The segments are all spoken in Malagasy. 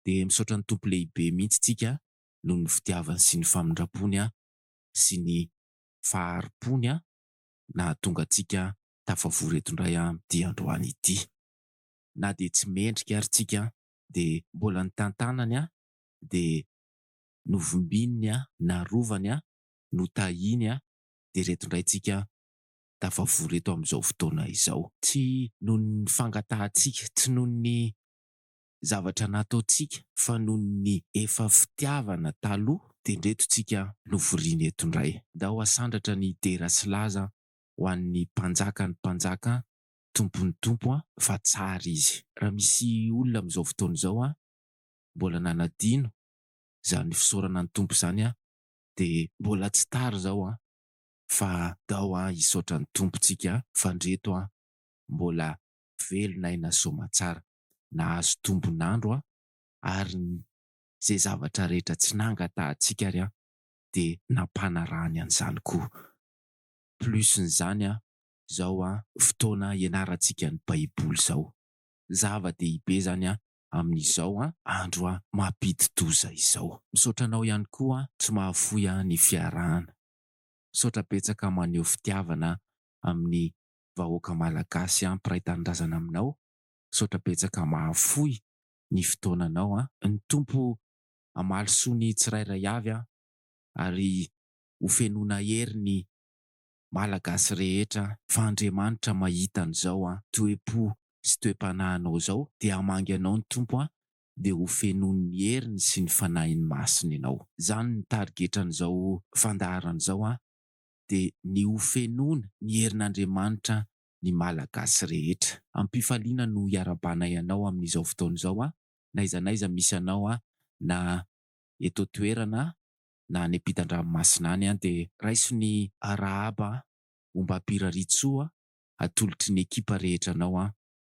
dia misaotra ny Tompo lehibe mihitsy tsika noho ny fitiavany sy ny famindrampony sy ny faharim-pony nahatonga antsika tafavory eto indray amin'ity androany ity. Na dia tsy mendrika ary tsika dia mbola nitantanany dia novombiny narovany notahiny dia ireto indray tsika tafavory eto amin'izao fotoana izao. Tsy noho ny fangatahantsika, tsy noho ny zavatra nataontsika fa noho ny efa fitiavana taloha dia ndreto tsika lovoriana eto ndray. Ndao hasandratra ny dera sy laza ho an'ny mpanjaka ny mpanjaka tompon'ny tompo a! fa tsara izy. Raha misy olona amin'izao fotoana izao a mbola nanadino izany fisaorana ny tompo izany a dia mbola tsy tara izao a! fa ndao a hisaotra ny tompo tsika fa ndreto a mbola velon'aina soamatsara. nahazo tombon'andro aho ary ny izay zavatra rehetra tsy nangatahantsika ary aho dia nampanarahany an'izany koa. Plus n'izany aho izao an fotoana ianarantsika ny baiboly izao. Zava dehibe izany an amin'izao an andro an mampidi-doza izao. Misaotra anao ihany koa an tsy mahafoy an ny fiarahana. Misaotra betsaka maneho fitiavana amin'ny vahoaka malagasy an mpiray tanindrazana aminao Misaotra betsaka mahafoy ny fotoananao an! Ny Tompo hamaly soa ny tsirairay avy an! Ary ho fenoina hery ny Malagasy rehetra an! Fa Andriamanitra mahita an'izao an! Toe-po sy toe-panahinao izao dia hamangy anao ny Tompo an! Dia ho fenoin'ny heriny sy ny Fanahiny Masina ianao. Izany ny tarigetran'izao fandaharana izao an! Dia ny ho fenoina ny herin'Andriamanitra ny Malagasy rehetra. Am-pifaliana no iarahabanay anao amin'izao fotoana izao aho, n'aiza n'aiza misy anao aho, na eto an-toerana na any am-pitan-dranomasina any aho, dia raiso ny arahaba homba Ampirirarintsoa atolotry ny ekipa rehetra anao aho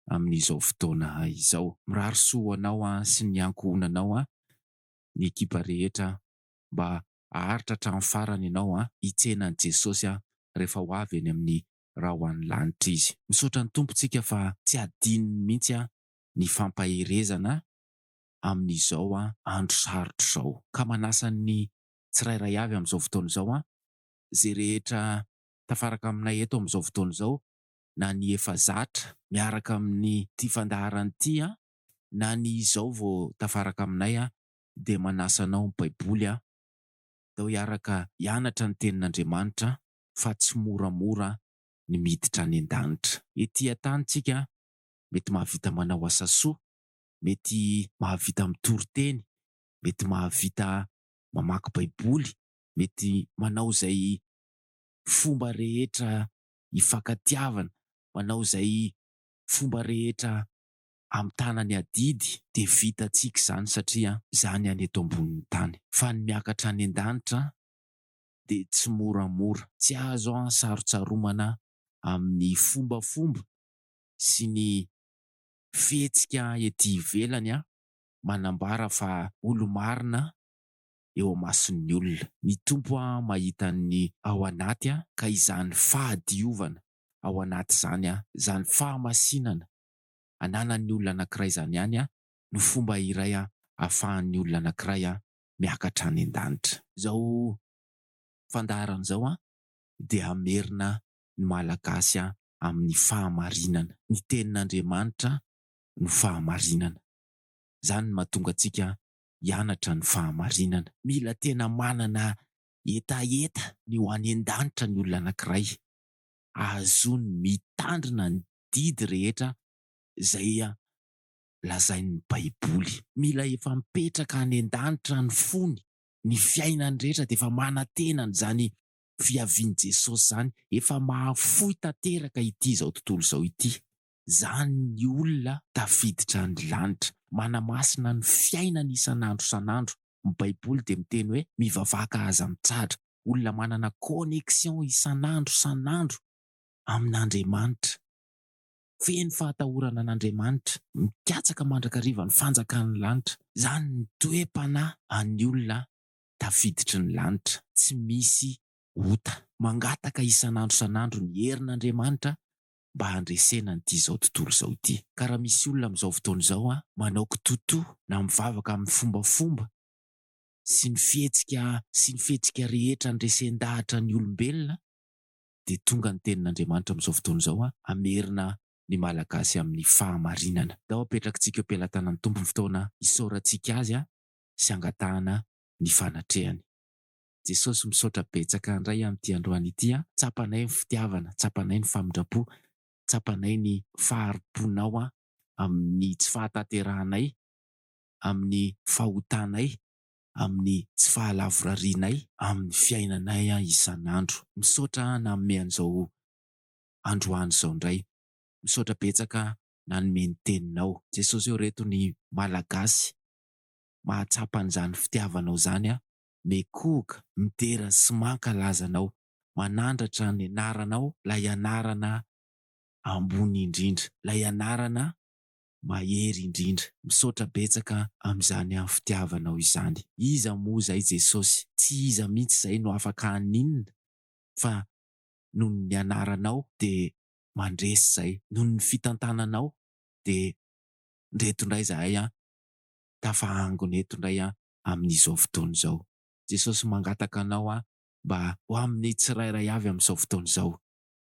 amin'izao fotoana izao. Mirary soa ho anao sy ny ankohonanao ny ekipa rehetra, mba haharitra hatramin'ny farany ianao hitsena an'i Jesosy rehefa ho avy eny amin'ny raha ho any lanitra izy. Misaotra ny Tompontsika fa tsy adinony mihitsy ny fampaherezana amin'izao andro sarotra izao. Ka manasa ny tsirairay avy amin'izao fotoana izao, izay rehetra tafaraka aminay eto amin'izao fotoana izao, na ny efa zatra miaraka amin'ity fandaharana ity, na ny izao vao tafaraka aminay, dia manasa anao ny Baiboly, atao hiaraka hianatra ny Tenin'Andriamanitra, fa tsy moramora ny miditra any an-danitra. Ety an-tany tsika mety mahavita manao asa soa, mety mahavita mitory teny, mety mahavita mamaky baiboly, mety manao izay fomba rehetra hifankatiavana, manao izay fomba rehetra hamitana ny adidy, dia vitantsika izany satria izany any eto ambonin'ny tany. Fa ny miakatra any an-danitra dia tsy moramora. Tsy azo sarotsaromana amin'ny fombafomba sy ny fihetsika ety ivelany manambara fa olo-marina eo amason'ny olona. Ny Tompo mahita ny ao anaty ka izany fahadiovana ao anaty izany, izany fahamasinana ananan'ny olona anankiray izany ihany no fomba iray ahafahan'ny olona anankiray miakatra any an-danitra. Izao fandaharana izao dia hamerina ny Malagasy amin'ny fahamarinana. Ny Tenin'Andriamanitra no fahamarinana. Izany no mahatonga antsika hianatra ny fahamarinana. Mila tena manana hetaheta ny ho any an-danitra ny olona anankiray, ahazoany mitandrina ny didy rehetra izay lazain'ny Baiboly. Mila efa mipetraka any an-danitra ny fony, ny fiainany rehetra dia efa manantena an'izany fiavian'i Jesosy izany, efa mahafoy tanteraka ity izao tontolo izao ity. Izany ny olona tafiditra any lanitra, manamasina ny fiainany isan'andro isan'andro. Ny Baiboly dia miteny hoe mivavaka ka aza mitsadra, olona manana connexion isan'andro isan'andro amin'Andriamanitra. feno fahatahorana an'Andriamanitra, mikatsaka mandrakariva ny fanjakan'ny lanitra. Izany ny toe-panahy an'ny olona tafiditry ny lanitra tsy misy ota, mangataka isan'andro isan'andro ny herin'Andriamanitra mba handresena an'ity izao tontolo izao ity. Ka raha misy olona amin'izao fotoana izao manao kitoatoa na mivavaka amin'ny fombafomba sy ny fihetsika sy ny fihetsika rehetra handresen-dahatra ny olombelona, dia tonga ny tenin'Andriamanitra amin'izao fotoana izao hamerina ny Malagasy amin'ny fahamarinana. Ndao apetrakintsika eo am-pelatanan'ny Tompo ny fotoana hisaorantsika Azy sy hangatahana ny fanatrehany. Jesosy misaotra betsaka ndray amin'ity androany ity a! Tsapanay ny fitiavana, tsapanay ny famindrampo, tsapanay ny faharimponao amin'ny tsy fahatanterahanay, amin'ny fahotanay, amin'ny tsy fahalavorarianay amin'ny fiainanay isan'andro. Misaotra nanome an'izao androany izao indray. Misaotra betsaka nanome ny teninao. Jesosy ô reto ny Malagasy mahatsapa an'izany fitiavanao izany a! Mekohoka, midera sy mankalaza anao, manandratra ny anaranao, ilay anarana ambony indrindra, ilay anarana Mahery indrindra. Misaotra betsaka amin'izany amin'ny fitiavanao izany. Iza moa izay Jesosy? Tsy iza mihitsy izay no afaka haninona fa noho ny nianaranao dia mandresy izay. Noho ny fitantananao dia ndreto indray izahay an, tafahangona eto indray an amin'izao fotoana izao. Jesosy mangataka anao an mba ho amin'ny tsirairay avy amin'izao fotoana izao.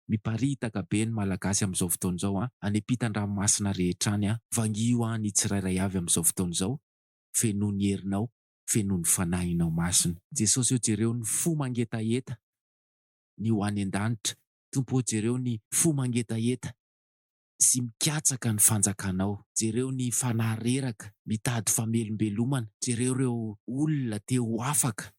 Miparitaka be ny Malagasy amin'izao fotoana izao an! Any ampitan-dranomasina rehetra any an! Vangio aho ny tsirairay avy amin'izao fotoana izao, fenoy ny herinao, fenoy ny Fanahinao Masina. Jesosy ô jereo ny fo mangetaheta ny ho any an-danitra, Tompo ô jereo ny fo mangetaheta sy mikatsaka ny fanjakanao, jereo ny fanahy reraka mitady famelombelomana, jereo ireo olona te ho afaka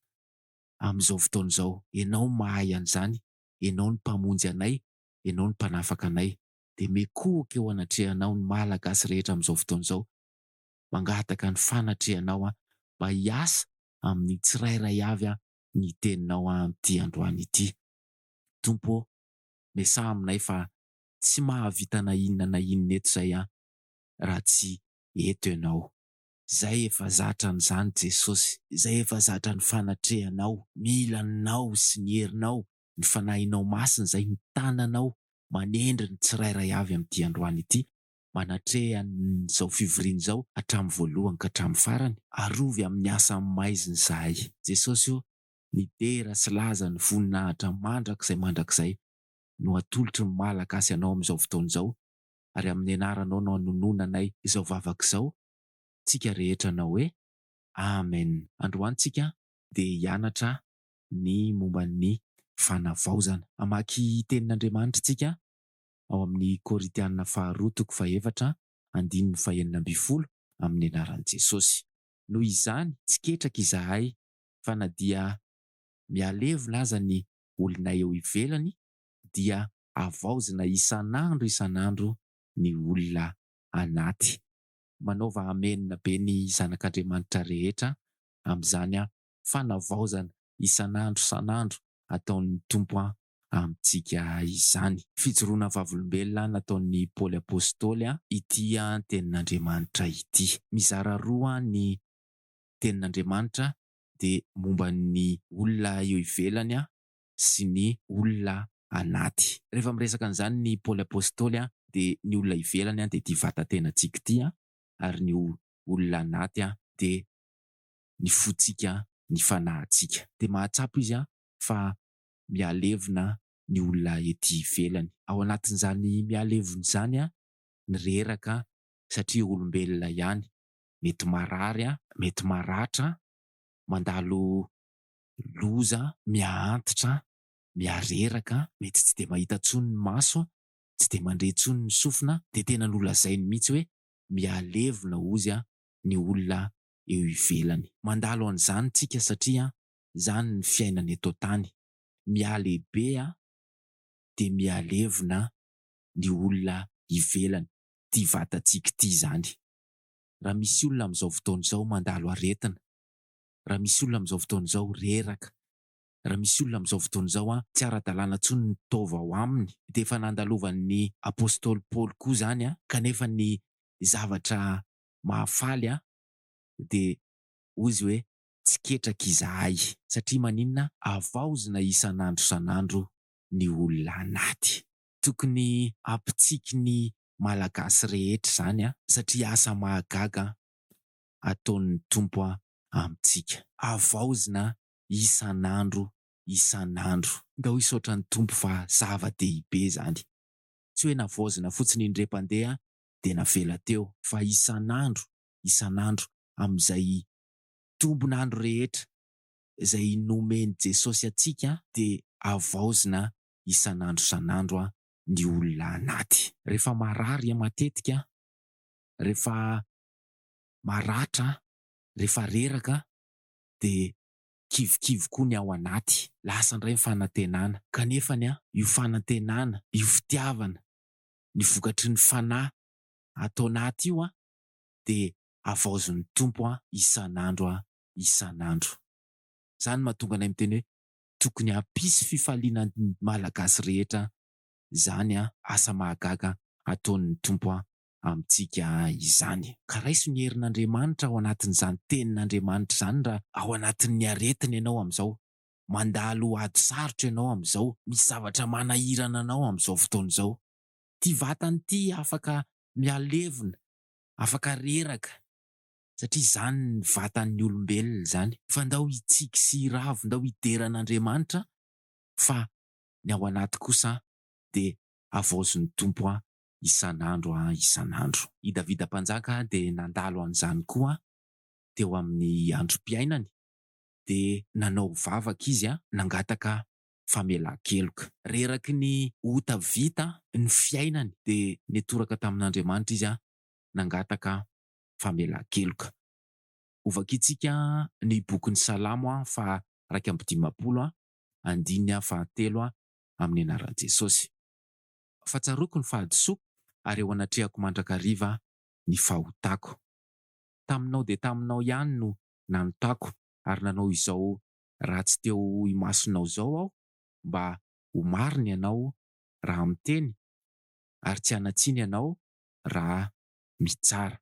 amin'izao fotoana izao, Ianao mahay an'izany, Ianao no Mpamonjy anay, Ianao no Mpanafaka anay. Dia mikohoka eo anatrehanao ny Malagasy rehetra amin'izao fotoana izao. Mangataka ny fanatrehanao aho mba hiasa amin'ny tsirairay avy ny Teninao amin'ity androany ity. Tompo ô, miasà aminay fa tsy mahavita na inona na inona eto izay aho raha tsy eto Ianao. Izay efa zatra an'izany Jesosy, izay efa zatra ny fanatrehanao, mila anao sy ny herinao, ny Fanahinao Masina izay mitana anao manendry ny tsirairay avy amin'ity androany ity, manatreha an'izao fivoriana izao hatramin'ny voalohany ka hatramin'ny farany. Arovy amin'ny asa amin'ny maizina izahay. Jesosy o, midera sy laza ny voninahitra mandrakizay mandrakizay no atolotry ny Malagasy anao amin'izao fotoana izao, ary amin'ny anaranao no anononanay izao vavaka izao tsika rehetra anao hoe Amen androany tsika dia hianatra ny momba ny fanavaozana hamaky tenin'Andriamanitra tsika ao amin'ny Korintiana faharoa toko fahefatra andininy fahenina ambin'ny folo amin'ny anaran'i Jesosy noho izany tsy ketraka izahay fa na dia mihalevona aza ny olonay eo ivelany dia havaozina isan'andro isan'andro ny olona anaty. Manaova Amena be ny zanak'Andriamanitra rehetra amin'izany fanavaozana isan'andro isan'andro ataon'ny Tompo amintsika izany. Fijoroana vavolombelona nataon'i Paoly Apostoly ity tenin'Andriamanitra ity. Mizara roa ny tenin'Andriamanitra dia momba ny olona eo ivelany sy ny olona anaty. Rehefa miresaka an'izany ny Paoly Apostoly dia ny olona ivelany dia ity vatan-tenantsika ity ary ny olona anaty dia ny fontsika, ny fanahintsika. Dia mahatsapa izy fa mihalevona ny olona ety ivelany. Ao anatin'izany mihalevona izany ny reraka satria olombelona ihany, mety marary, mety maratra, mandalo loza miha-antitra an, miha-reraka an, mety tsy dia mahita intsony ny maso an, tsy dia mandre intsony ny sofina an, dia tena nolazainy mihitsy hoe mihalevona hozy an ny olona eo ivelany. Mandalo an'izany tsika satria an, izany ny fiainana eto an-tany. Mihalehibe an, dia mihalevona an ny olona ivelany, ity vatantsika ity izany. Raha misy olona amin'izao fotoana izao mandalo aretina, raha misy olona amin'izao fotoana izao reraka, raha misy olona amin'izao fotoana izao an, tsy ara-dalàna intsony ny taova ao aminy, dia efa nandalovan'ny Apostoly Paoly koa izany an, kanefa ny zavatra mahafaly an, dia hoy izy hoe, Tsy ketraka izahay. Satria maninona? Havaozina isan'andro isan'andro ny olona anaty. Tokony hampitsiky ny Malagasy rehetra izany an, satria asa mahagaga an, ataon'ny Tompo amintsika. Havaozina isan'andro isan'andro. Ndao hisaotra ny Tompo fa zava-dehibe izany. Tsy hoe navaozina fotsiny indrem-pandeha dia navela teo. Fa isan'andro isan'andro amin'izay tombon'andro rehetra izay nomen'i Jesosy antsika dia havaozina isan'andro isan'andro ny olona anaty. Rehefa marary matetika, rehefa maratra an! rehefa reraka de kivikivy koa ny ao anaty, lasa ndray ny fanantenana, kanefany an! io fanantenana, io fitiavana, ny vokatry ny fanahy ato anaty io an! de havaozin'ny Tompo an! isan'andro an! isan'andro! zany mahatonga anay miteny hoe tokony hampisy fifaliana ny Malagasy rehetra zany an! asa mahagaga ataon'ny Tompo an! amintsika izany. Ka raiso ny herin'Andriamanitra ao anatin'izany Tenin'Andriamanitra izany raha ao anatin'ny aretina ianao amin'izao, mandalo ady sarotra ianao amin'izao, misy zavatra manahirana anao amin'izao fotoana izao. Ity vatana ity afaka mihalevona, afaka reraka, satria izany ny vatan'ny olombelona izany. Fa ndao hitsiky sy hiravo, ndao hidera an'Andriamanitra, fa ny ao anaty kosa dia havaozin'ny Tompo an, isan'andro isan'andro. I Davida Mpanjaka dia nandalo an'izany koa teo amin'ny androm-piainany, dia nanao vavaka izy nangataka famelan-keloka. Reraky ny ota vita ny fiainany, dia nitoraka tamin'Andriamanitra izy nangataka famelan-keloka. Hovakintsika ny bokin'ny Salamo faha iraika amby dimampolo, andininy fahatelo, amin'ny anaran'i Jesosy. fa tsaroako ny fahadisoako ary eo anatrehako mandrakariva ny fahotako. Taminao dia taminao ihany no nanotako ary nanao izao ratsy teo imasonao izao aho mba ho marina ianao raha miteny ary tsy hanatsiny ianao raha mitsara.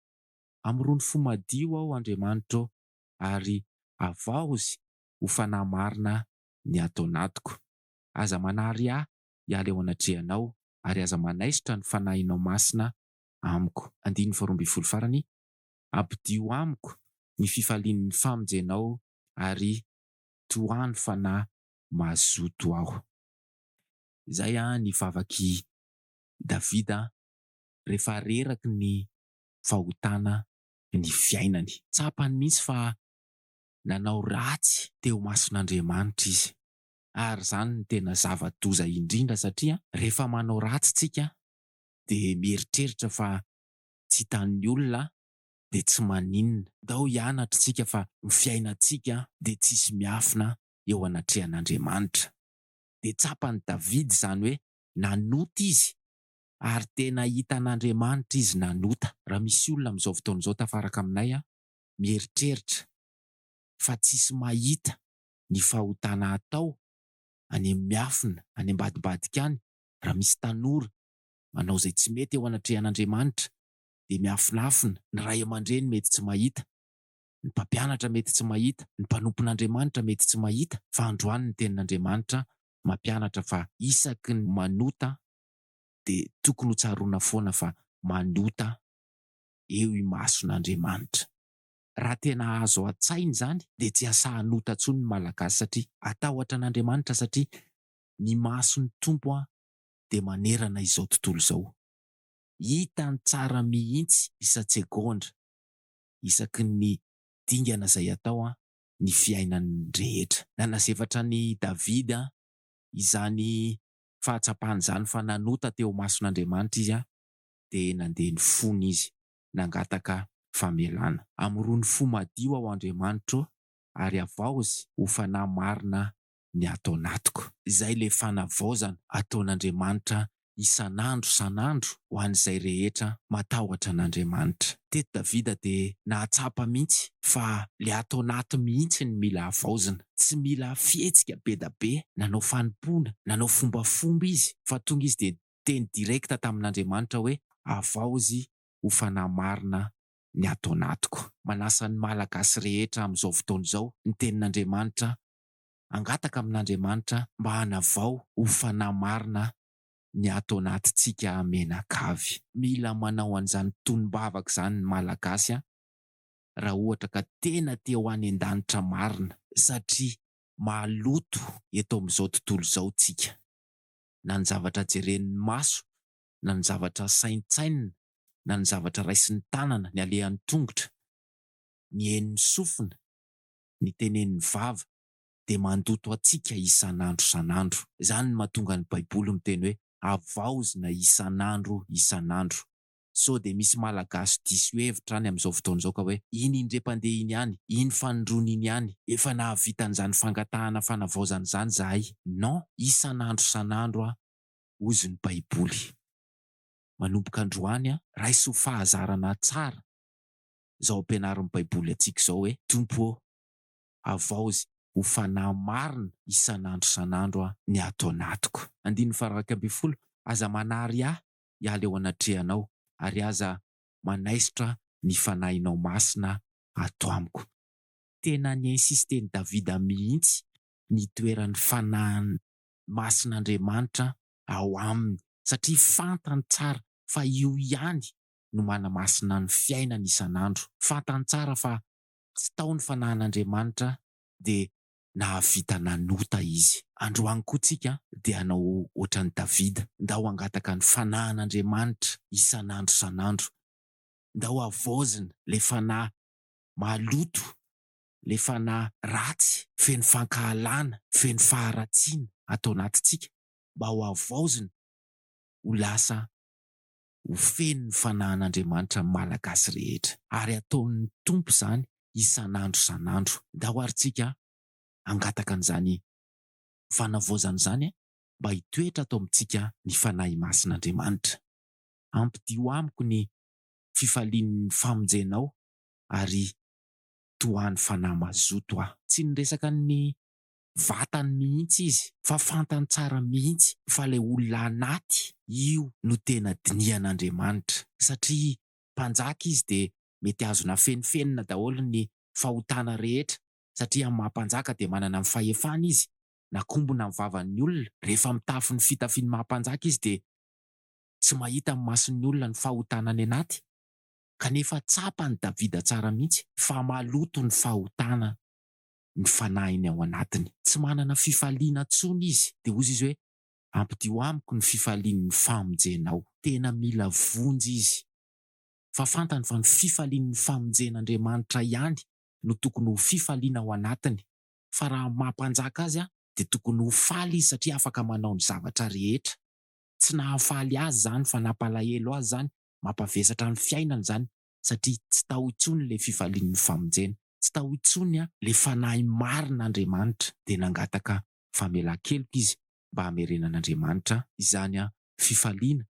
Amorony fo madio aho Andriamanitro ary avaozy ho fanahy marina ny ato anatiko. Aza manary ahy hiala eo anatrehanao, ary aza manaisotra ny fanahinao masina amiko. Andininy faharoa ambin'ny folo farany, Ampidio amiko ny fifalian'ny famonjenao ary tohano fanahy mazoto aho. Izay ny vavak'i Davida rehefa reraky ny fahotana ny fiainany. Tsapany mihitsy fa nanao ratsy teo imason'Andriamanitra izy. ary izany no tena zava-doza indrindra satria rehefa manao ratsy tsika dia mieritreritra fa tsy hitan'ny olona dia tsy maninona, ndao hianatra tsika fa ny fiainantsika dia tsisy miafina eo anatrehan'Andriamanitra. Dia tsapan'i David izany hoe nanota izy ary tena hitan'Andriamanitra izy nanota. Raha misy olona amin'izao fotoana izao tafaraka aminay mieritreritra fa tsisy mahita ny fahotana atao any amin'ny miafina, any ambadimbadika any, raha misy tanora manao izay tsy mety eo anatrehan'Andriamanitra dia miafinafina, ny ray aman-dreny mety tsy mahita, ny mpampianatra mety tsy mahita, ny mpanompon'Andriamanitra mety tsy mahita fa androany ny tenin'Andriamanitra mampianatra fa isaky ny manota dia tokony ho tsaroana foana fa manota eo imason'Andriamanitra. Raha tena azo atsaina izany dia tsy hasahan'ota tsony ny Malagasy satria atahotra an'Andriamanitra satria ny mason'ny Tompo dia manerana izao tontolo izao. Hitany tsara mihitsy isan-tsegondra isaky ny dingana izay atao ny fiainan'ny rehetra. Nanazefatra an'i Davida izany fahatsapany izany fa nanota teo imason'Andriamanitra izy dia nandeha ny fony izy. nangataka famelana. Amorony fo madio aho Andriamanitro ô ary avaozy ho fanahy marina ny ato anatiko. Izay ilay fanavaozana ataon'Andriamanitra isan'andro san'andro ho an'izay rehetra matahotra an'Andriamanitra. Teto Davida dia nahatsapa mihitsy fa ilay ato anaty mihitsy no mila havaozina. Tsy mila fihetsika be da be, nanao fanompoana, nanao fombafomba izy fa tonga izy dia teny direct tamin'Andriamanitra hoe avaozy ho fanahy marina ny ato anatiko. Manasa ny Malagasy rehetra amin'izao fotoana izao ny tenin'Andriamanitra, hangataka amin'Andriamanitra mba hanavao ho fanahy marina ny ato anatintsika menakavy. Mila manao an'izany tonom-bavaka izany ny Malagasy raha ohatra ka tena te ho any an-danitra marina. Satria maloto eto amin'izao tontolo izao tsika. na ny zavatra jeren'ny maso, na ny zavatra saintsainina, na ny zavatra raisin'ny tanana, ny alehan'ny tongotra, ny henon'ny sofina, ny tenen'ny vava, dia mandoto antsika isan'andro isan'andro. Izany no mahatonga ny Baiboly miteny hoe havaozina isan'andro isan'andro. sao dia misy Malagasy diso hevitra any amin'izao fotoana izao ka hoe, iny indriampandeha iny ihany, iny fanondroana iny ihany, efa nahavita an'izany fangatahana fanavaozana izany izahay. Non! Isan'andro isan'andro aho, hozy ny Baiboly. Manomboka androany, raiso ho fahazarana tsara izao ampianarin'ny Baiboly antsika izao hoe, Tompo ô, havaozy ho fanahy marina isan'andro isan'andro ny ato anatiko. Andininy faha iraika ambin'ny folo, Aza manary ahy, hiala eo anatrehanao, ary aza manaisotra ny Fanahinao Masina ato amiko. Tena ni-insisten'i Davida mihitsy ny hitoeran'ny Fanahy Masin'Andriamanitra ao aminy, satria fantany tsara fa io ihany no manamasina ny fiainany isan'andro. Fantany tsara fa tsy tao ny Fanahin'Andriamanitra dia nahavita nanota izy. Androany koa tsika dia hanao ohatran'i Davida, ndao hangataka ny fanahin'Andriamanitra isan'andro isan'andro, ndao havaozina ilay fanahy maloto, ilay fanahy ratsy, feno fankahalana, feno faharatsiana ato anatintsika, mba ho havaozina ho lasa ho feno ny fanahan'Andriamanitra ny Malagasy rehetra, ary ataon'ny Tompo izany isan'andro isan'andro. Ndao ary tsika hangataka an'izany fanavaozana izany mba hitoetra ato amintsika ny Fanahy Masin'Andriamanitra. Ampidio amiko ny fifalian'ny famonjenao ary tohano fanahy mazoto aho. Tsy niresaka ny vatany mihitsy izy fa fantany tsara mihitsy fa ilay olona anaty io no tena dinihan'Andriamanitra satria mpanjaka izy dia mety azony afenifenina daholo ny fahotana rehetra satria maha mpanjaka dia manana ny fahefana izy nakombona ny vavan'ny olona rehefa mitafy ny fitafiany maha mpanjaka izy dia tsy mahita amin'ny mason'ny olona ny fahotana any anaty kanefa tsapan'i Davida tsara mihitsy fa maloto ny fahotana ny fanahiny ao anatiny. Tsy manana fifaliana intsony izy, dia hozy izy hoe, Ampidio amiko ny fifalian'ny famonjenao. Tena mila vonjy izy, fa fantany fa ny fifalian'ny famonjen'Andriamanitra ihany no tokony ho fifaliana ao anatiny, fa raha maha Mpanjaka azy dia tokony ho faly izy satria afaka manao ny zavatra rehetra. Tsy nahafaly azy izany, fa nampalahelo azy izany, mampavesatra ny fiainany izany, satria tsy tao intsony ilay fifalian'ny famonjena, tsy tao intsony ilay fanahy marina Andriamanitra, dia nangataka famelan-keloka izy mba hamerenan'Andriamanitra izany fifaliana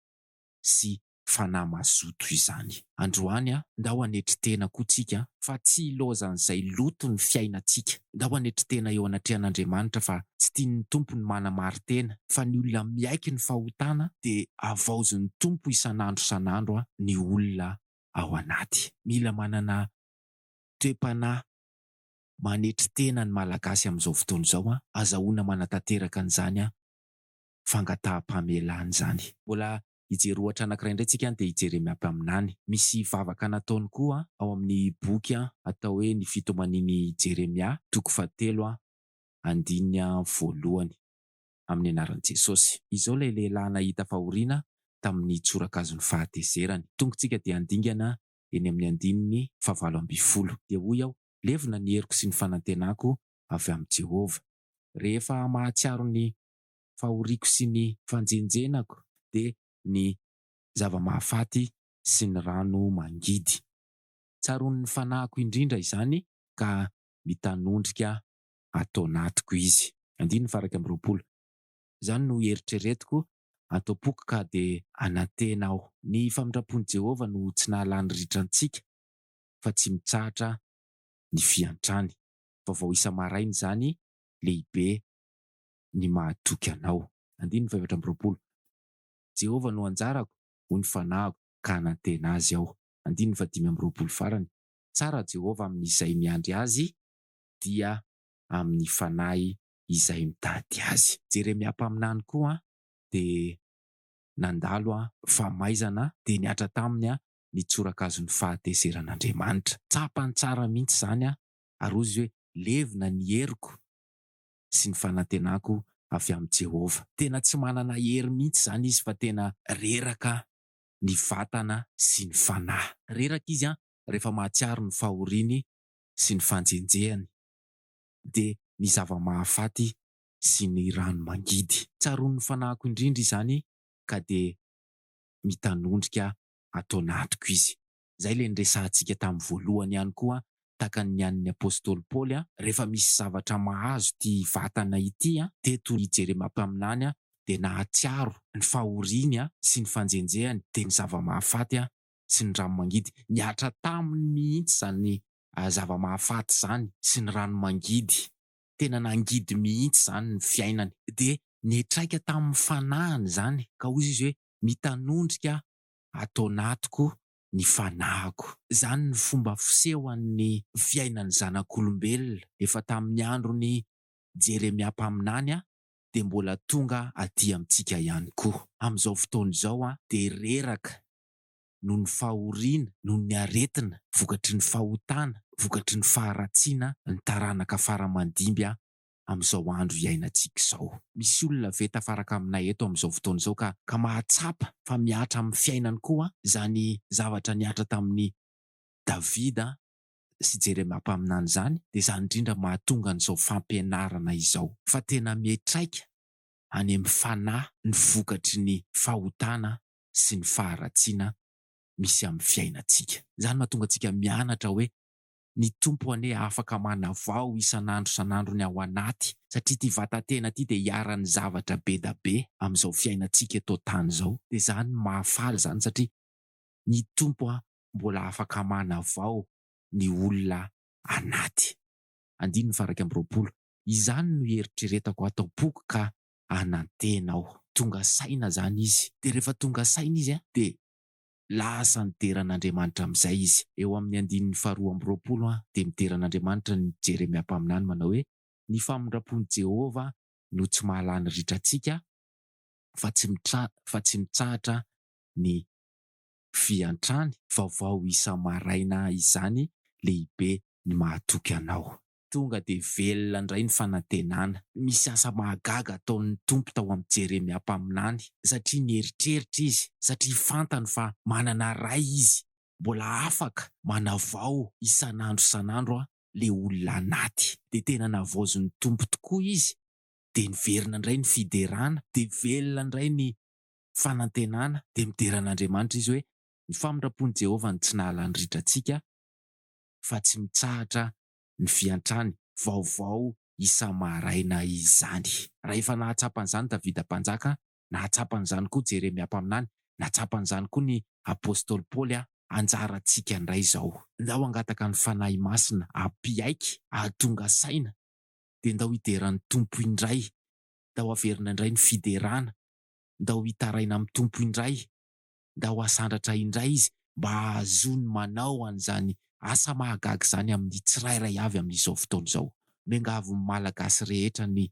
sy fanahy mazoto izany. Androany, ndao hanetry tena koa tsika fa tsy hilaozan'izay loto ny fiainantsika. Ndao hanetry tena eo anatrehan'Andriamanitra fa tsy tian'ny Tompo ny manamari-tena, fa ny olona miaiky ny fahotana dia havaozin'ny Tompo isan'andro isan'andro ny olona ao anaty. Mila manana toe-panahy manetry tena ny Malagasy amin'izao fotoana izao, azahoana manatanteraka an'izany fangataham-pamelana izany. Mbola Hijery ohatra anankiray indray tsika dia hijeremy aby aminany. Misy vavaka nataony koa ao amin'ny boky atao hoe Ny Fitomanian'i Jeremia, toko fahatelo, andininy voalohany, amin'ny anaran'i Jesosy. Izao ilay lehilahy nahita fahoriana tamin'ny tsorakazon'ny fahatezerany. Tongotsika dia handingana eny amin'ny andininy fahavalo ambin'ny folo. Dia hoy aho, Levona ny heriko sy ny fanantenako avy amin'i Jehovah. Rehefa mahatsiaro ny fahoriako sy ny fanjenjenako dia ny zava-mahafaty sy ny rano mangidy. Tsaroan' ny fanahiko indrindra izany ka mitanondrika ato anatiko izy. Andininy faha iraika amby roapolo. Izany no hieritreretiko ato am-poko ka dia anantena aho. Ny famindram-pon'i Jehovah no tsy nahalany ritra antsika, fa tsy mitsahatra ny fiantrany. Vaovao isa-maraina izany lehibe ny mahatoky anao. Andininy fahefatra amby roapolo, Jehovah no anjarako, hoy ny fanahiko, ka hanantena azy aho. Andininy fahadimy amby roapolo farany, Tsara Jehovah amin'izay miandry azy, dia amin'ny fanahy izay mitady azy. Jeremia mpaminany koa dia nandalo famaizana, dia nihatra taminy ny tsorakazon'ny fahatezeran'Andriamanitra. Tsapany tsara mihitsy izany ary hoy izy hoe, Levona ny heriko. sy ny fanantenako avy amin'i Jehovah. Tena tsy manana hery mihitsy izany izy fa tena reraka ny vatana sy ny fanahy. Reraka izy rehefa mahatsiaro ny fahoriany sy ny fanjenjehany, dia ny zava-mahafaty sy ny rano mangidy. Tsaroan'ny fanahiko indrindra izany ka dia mitanondrika ato anatiko izy. Izay ilay niresahantsika tamin'ny voalohany ihany koa tahaka ny an'ny apostoly Paoly, rehefa misy zavatra mahazo ity vatana ity, dia toy i Jeremia mpaminany, dia nahatsiaro ny fahoriany sy ny fanjenjehany, dia ny zava-mahafaty sy ny rano mangidy. Nihatra taminy mihitsy izany zava-mahafaty izany sy ny rano mangidy, tena nangidy mihitsy izany ny fiainany. Dia niantraika tamin'ny fanahiny izany, ka hoy izy hoe, Mitanondrika aho ato anatiko ny fanahiko. Izany ny fomba fisehoan'ny fiainan'ny zanak'olombelona efa tamin'ny andron'i Jeremia mpaminany dia mbola tonga aty amintsika ihany koa. Amin'izao fotoana izao dia reraka noho ny fahoriana, noho ny aretina vokatry ny fahotana, vokatry ny faharatsiana ny taranaka fara-mandimby amin'izao andro iainantsika izao. Misy olona ve tafaraka aminay eto amin'izao fotoana izao ka ka mahatsapa fa mihatra amin'ny fiainany koa izany zavatra nihatra tamin'i Davida sy Jeremia mpaminany izany? Dia izany indrindra mahatonga an'izao fampianarana izao fa tena mihatraika any amin'ny fanahy ny vokatry ny fahotana sy ny faharatsiana misy amin'ny fiainantsika. Izany mahatonga antsika mianatra hoe ny Tompo anie afaka manavao isan'andro isan'andro ny ao anaty satria ity vatan-tena ity dia iharan'ny zavatra be da be amin'izao fiainantsika eto an-tany izao dia izany no mahafaly izany satria ny Tompo an mbola afaka manavao ny olona anaty. Andininy faha iraika amby roapolo, Izany no hieritreretako ato am-poko ka hanantena aho. Tonga saina izany izy dia rehefa tonga saina izy dia Lasa nidera an'Andriamanitra amin'izay izy. Eo amin'ny andininy faharoa amby roapolo an, dia midera an'Andriamanitra ny Jeremia mpaminany manao hoe, Ny famindram-pon'i Jehovah no tsy mahalà ny ritra antsika, fa tsy mitra, fa tsy mitsahatra ny fiantrany. Vaovao isa-maraina izany, lehibe ny mahatoky anao. Tonga dia velona indray ny fanantenana. Misy asa mahagaga ataon'ny Tompo tao amin'i Jeremia mpaminany, satria nieritreritra izy, satria fantany fa manana Ray izy, mbola afaka manavao isan'andro isan'andro ilay olona anaty. Dia tena navaozin'ny Tompo tokoa izy, dia niverina indray ny fiderana, dia velona indray ny fanantenana, dia midera an'Andriamanitra izy hoe, Ny famindram-pon'i Jehovah no tsy nahalany ritra antsika, fa tsy mitsahatra ny fiantrany vaovao isa-maraina izany. Rahefa nahatsapa an'izany Davida Mpanjaka, nahatsapa an'izany koa Jeremia Mpaminany, nahatsapa an'izany koa ny Apostoly Paoly a, anjarantsika indray izao. Ndao hangataka ny Fanahy Masina hampiaiky, hahatonga saina, dia ndao hideran'ny Tompo indray, ndao haverina indray ny fiderana, ndao hitaraina amin'ny Tompo indray, ndao hasandratra indray izy mba hahazoany manao an'izany asa mahagaga izany amin'ny tsirairay avy amin'izao fotoana izao. Miangavy ny Malagasy rehetra ny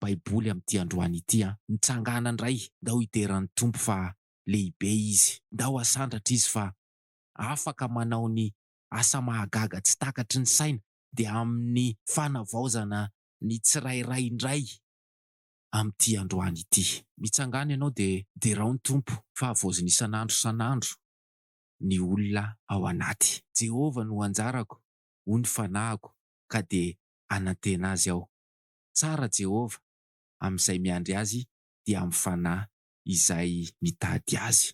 Baiboly amin'ity androany ity an! Mitsangàna indray, ndao hidera ny Tompo fa lehibe Izy, ndao hasandratra Izy fa afaka manao ny asa mahagaga tsy takatry ny saina, dia amin'ny fanavaozana ny tsirairay indray. amin'ity androany ity. Mitsangàna ianao dia derao ny Tompo fa havaozina isan'andro isan'andro ny olona ao anaty. Jehovah no anjarako, hoy ny fanahiko, ka dia hanantena azy aho. Tsara Jehovah amin'izay miandry azy dia amin'ny fanahy izay mitady azy.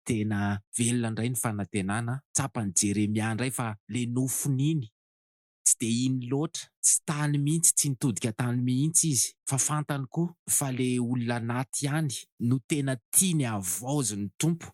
Tena velona indray ny fanantenana, tsapan'i Jeremia indray fa le nofon'iny tsy dia iny loatra, tsy tany mihitsy, tsy nitodika tany mihitsy izy fa fantany koa fa le olona anaty ihany no tena tiany havaozin'ny Tompo.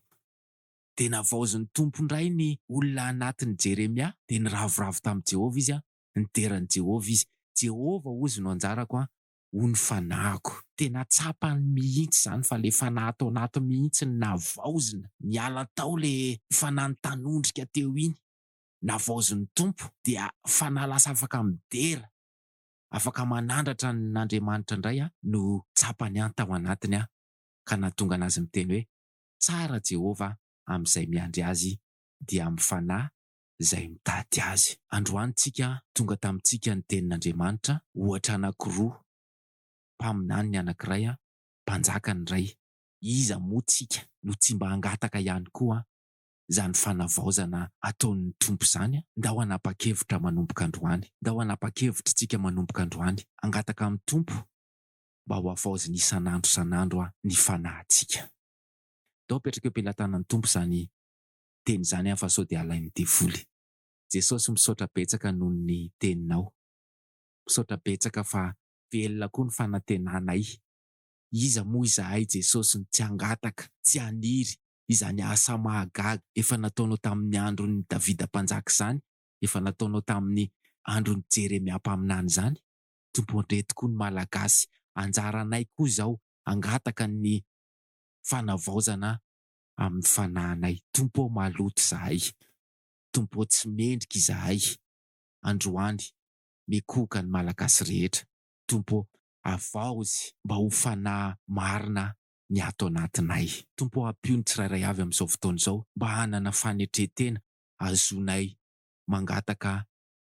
Dia navaozin'ny Tompo indray ny olona anatin'i Jeremia, dia niravoravo tamin'i Jehovah izy, nidera an'i Jehovah izy, Jehovah hozy no anjarako an, hoy ny fanahiko. Tena tsapany mihitsy izany fa le fanahy tao anatiny mihitsy no navaozina, niala tao le fanahy nitanondrika teo iny. navaozin'ny Tompo dia fanahy lasa afaka midera, afaka manandratra an'Andriamanitra indray no tsapany any tao anatiny ka nahatonga anazy miteny hoe, Tsara Jehovah amin'izay miandry Azy dia amin'ny fanahy izay mitady Azy. Androany tsika tonga tamintsika ny Tenin'Andriamanitra ohatra anankiroa, Mpaminany ny anankiray, Mpanjaka ny iray. Iza moa tsika no tsy mba hangataka ihany koa izany fanavaozana ataon'ny Tompo izany, ndao hanapa-kevitra manomboka androany, ndao hanapa-kevitr'tsika manomboka androany, hangataka amin'ny Tompo mba ho havaoziny isan'andro isan'andro ny fanahintsika. Ndao apetraka eo am-pelatanan'ny Tompo izany teny izany an fa sao dia halain'ny devoly. Jesosy misaotra betsaka noho ny teninao. Misaotra betsaka fa velona koa ny fanantenanay. Iza moa izahay Jesosy no tsy hangataka, tsy haniry izany asa mahagaga efa nataonao tamin'ny andron'i Davida mpanjaka izany, efa nataonao tamin'ny andron'i Jeremia mpaminany izany. Tompo andreto koa ny Malagasy, anjaranay koa izao hangataka ny fanavaozana amin'ny fanahinay. Tompo ô maloto izahay, Tompo ô tsy mendrika izahay, androany mikohoka ny Malagasy rehetra, Tompo ô avaozy mba ho fanahy marina ny ato anatinay. Tompo ô ampio ny tsirairay avy amin'izao fotoana izao mba hanana fanetren-tena hahazoanay mangataka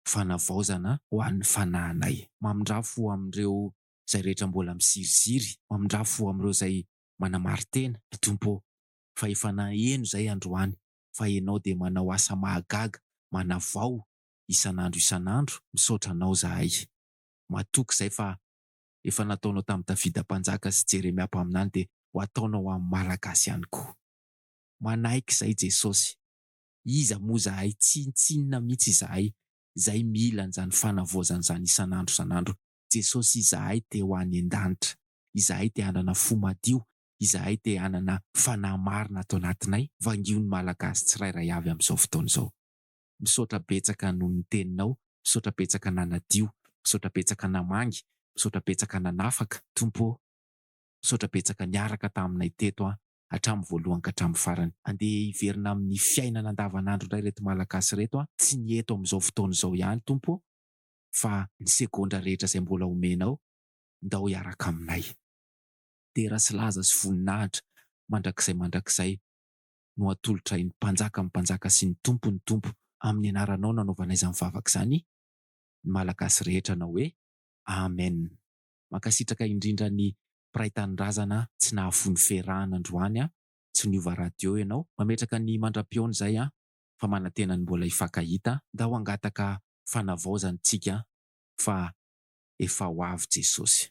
fanavaozana ho an'ny fanahinay. Mamindrà fo amin'ireo izay rehetra mbola miziriziry, mamindrà fo amin'ireo izay manamari-tena, ry Tompo ô, fa efa naheno izay androany fa Ianao dia manao asa mahagaga manavao isan'andro isan'andro, misaotra Anao izahay. Matoky izay fa efa nataonao tamin'i Davida mpanjaka sy Jeremia mpaminany dia ho ataonao amin'ny Malagasy ihany koa. Manaiky izay Jesosy. Iza moa izahay, tsinontsinona mihitsy izahay izay mila an'izany fanavaozana izany isan'andro isan'andro. Jesosy izahay te ho any an-danitra. Izahay te hanana fo madio. Izahay te hanana fanahy marina ato anatinay. Vangio ny Malagasy tsirairay avy amin'izao fotoana izao. Misaotra betsaka noho ny teninao, misaotra betsaka nanadio, misaotra betsaka namangy, misaotra betsaka nanafaka, Tompo ô! Misaotra betsaka niaraka taminay teto an, hatramin'ny voalohany ka hatramin'ny farany. Andeha hiverina amin'ny fiainana andavanandro indray ireto Malagasy ireto an, tsy ny eto amin'izao fotoana izao ihany Tompo ô, fa ny segondra rehetra izay mbola omenao, ndao hiaraka aminay. Dera sy laza sy voninahitra mandrakizay mandrakizay no atolotra eny Mpanjaka ny Mpanjaka sy ny Tompo ny Tompo amin'ny anaranao nanaovana izany vavaka izany ny Malagasy rehetra anao hoe Amen Mankasitraka indrindra ny Mpiray Tanindrazana tsy nahafoy ferahana androany an tsy niova radio ianao mametraka ny mandra-pihaona izay an fa manantena ny mbola hifankahita ndao hangataka fanavaozana isika fa efa ho avy Jesosy.